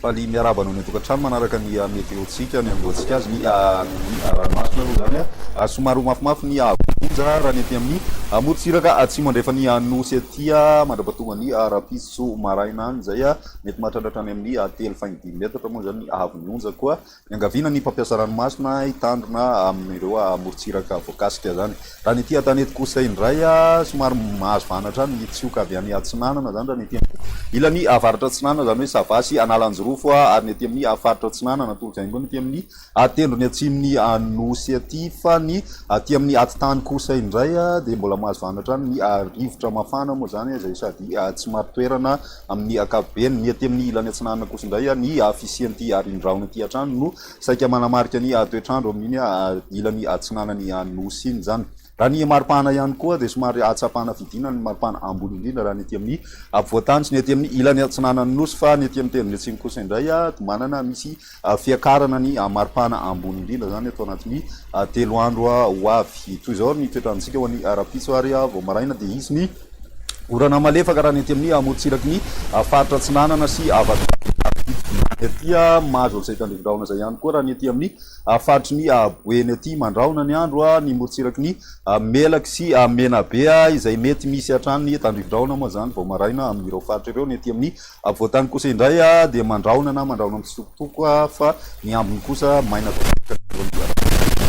Faly miarahaba anao ny an-tokantrano manaraka ny ah, météo-tsika, ny andohantsika azy, ny ah, ah, ranomasina aloha izany. Ah. Somary ho mafimafy ny vonja raha ny aty amin'ny amorontsiraka atsimo andrefan'ny nosy aty mandra-pahatonga ny rahampitso maraina any izay. Mety mahatratra hatrany amin'ny ha telo faingo dimy metatra moa izany ny haavon'ny onja koa niangaviana ny mpampiasa ranomasina hitandrina amin'ireo morontsiraka voakasika izany. Raha ny ety an-tanety kosa indray, somary mahazo vahana hatrany ny tsioka avy any atsinanana izany raha ny ety amin'ny ilany avaratra atsinanana izany hoe Sava sy Analanjirofo ary ny ety amin'ny faritra atsinanana tolok'aingony ety amin'ny Atendro ny atsimon'ny Nosy aty fa ny aty amin'ny atitany kosa indray dia mbola mahazvana hatrany ny rivotra mafana moa izany izay sady tsy marin-toerana amin'ny ankapobeny. Ny aty amin'ny ilany atsinanana kosa indray ny fisian'ity rindraona ity hatrany no saika manamarika ny toetr'andro amin'iny ilany atsinanan'ny Nosy iny izany. Raha ny maripana ihany koa dia somary ahatsapana fidinana ny maripana ambony indrindra raha ny ety amin'ny afovoan-tany sy ny ety amin'ny ilany atsinanan'ny nosy fa ny ety amin'ny teniny atsimo kosa indray dia manana misy fiakarana ny maripana ambony indrindra izany eto anatin'ny telo andro ho avy. Toy izao ny toetr'androntsika ho an'ny rahampitso ary vao maraina dia hisy ny orana malefaka raha ny ety amin'ny morontsiraky ny faritra atsinanana sy avaratr'Antananarivo. Ny aty mahazo an'izay tandrifin-drahona izay ihany koa raha ny ety amin'ny. Faritry ny Boeny aty Mandrahona ny andro a, ny morontsiraky ny Melaky sy Menabe a, izay mety misy hatrany ny tandrivindrahona moa izany vao maraina amin'ireo faritra ireo, ny aty amin'ny Afovoantany kosa indray a dia mandrahona na mandrahona mitsitokotoko a, fa ny ambiny kosa maina tanteraka ny andro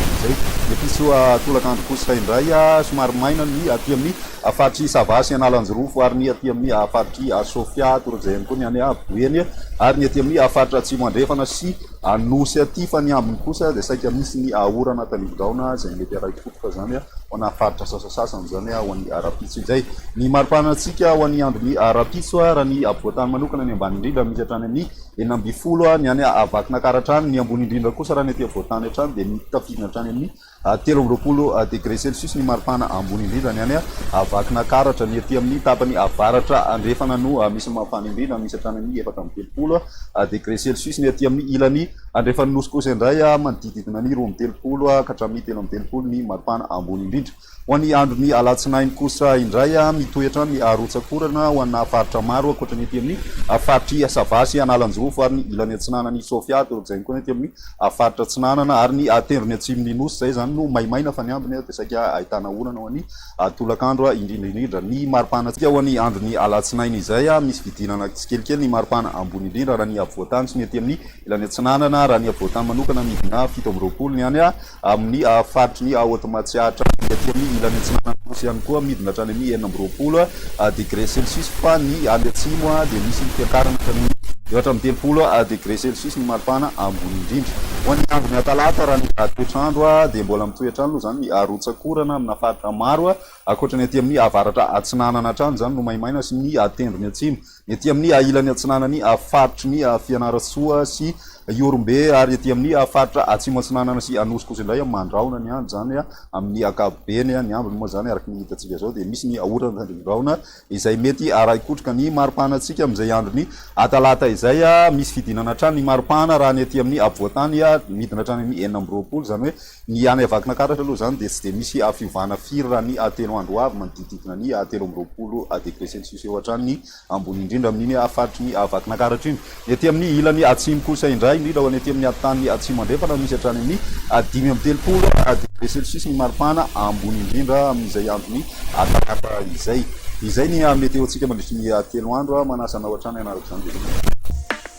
amin'izay, episy tolakandro kosa indray a somary maina ny aty amin'ny faritr'i Sava sy Analanjirofo ary ny aty amin'ny faritr'i Sofia, torak'izay ihany koa ny any Boeny ary ny aty amin'ny faritra Atsimo Andrefana sy Anosy aty fa ny ambiny kosa dia saika misy ny ahorana tanimbin-drahona izay mety haray potika izany ho ana faritra sasasasany izany ho an'ny ara-pitso. Izay ny maripanantsika ho an'ny andron'ny ara-pitso raha ny afovoan-tany manokana ny ambany indrindra misy hatrany amin'ny enina ambin'ny folo ny any Vakinankaratra any, ny ambony indrindra kosa raha ny aty afovoan-tany hatrany dia mitafidina hatrany amin'ny Telo amby roapolo degre celsius ny maripana ambony indrindra, ny any Vakinankaratra. Ny ety amin'ny tapany avaratra andrefana no misy mafana indrindra, misy hatrany amin'ny efatra amby telopolo degre celsius. Ny ety amin'ny ilany andrefan'ny Nosy kosa indray, manodidididina ny roa amby telopolo ka hatramin'ny telo amby telopolo ny maripana ambony indrindra. Ho an'ny andron'ny alatsinainy kosa indray, mitoetra ny rotsak'orana ho ana faritra maro, ankoatra ny ety amin'ny faritr'i Sava sy Analanjirofo ary ny ilany atsinanan'i Sofia, torak'izay ihany koa ny ety amin'ny. a faritra atsinanana ary ny a tendrony atsimo ny nosy zay zany no maimaina fa ny ambiny a de saika ahitana orana ho any a tolakandro a indrindra indrindra ny maripana tsika ho any andro ny alatsinainy izay a misy fidinana tsikelikely ny maripana ambony indrindra raha ny afovoantany sy ny aty amin'ny ilany atsinanana raha ny afovoantany manokana ny dina fito amby roapolo ny any a amin'ny a faritry ny a haute matsiatra ny aty amin'ny ilany atsinanana nosy ihany koa midina hatrany amin'ny enina amby roapolo degre celsius fa ny any atsimo dia misy ny fiakarana hatramin'ny. Eo hatramin'ny telopolo degre celsius ny maripana ambony indrindra. Ho an'ny andron'ny atalata raha ny toetr'andro dia mbola mitohy hatrany aloha izany ny arotsakorana amina faritra maro ankoatra ny aty amin'ny avaratra atsinanana hatrany izany no maimaina sy ny tendrony atsimo. ny ety amin'ny ahilan'ny atsinanan'ny faritry ny Fianarantsoa sy Ihorombe ary ety amin'ny faritra atsimo atsinanana sy Anosy kosa indray mandrahona ny andro izany amin'ny ankapobeny ny ambiny moa izany araka ny hitantsika izao dia misy ny orana tandrevin-drahona izay mety arahi-kotroka ny maripanantsika amin'izay andron'ny atalata izay misy fidinana hatrany ny maripana raha ny ety amin'ny afovoantany midina hatrany amin'ny enina amby roapolo izany hoe Ny any Vakinankaratra aloha izany dia tsy dia misy fiovana firy raha ny telo andro ho avy, manodidididina ny telo amby roapolo degré celsius eo hatrany ny ambony indrindra amin'iny faritry ny Vakinankaratra iny. Ny aty amin'ny ilany atsimo kosa indray, indrindra ho an'ny aty amin'ny tany atsimo andrefana, misy hatrany amin'ny dimy amby telopolo degré celsius ny maripana ambony indrindra amin'izay andron'ny talata izay. Izay ny meteo-ntsika mandritry ny telo andro, manasa anao hatrany hanaraka izany dia izay.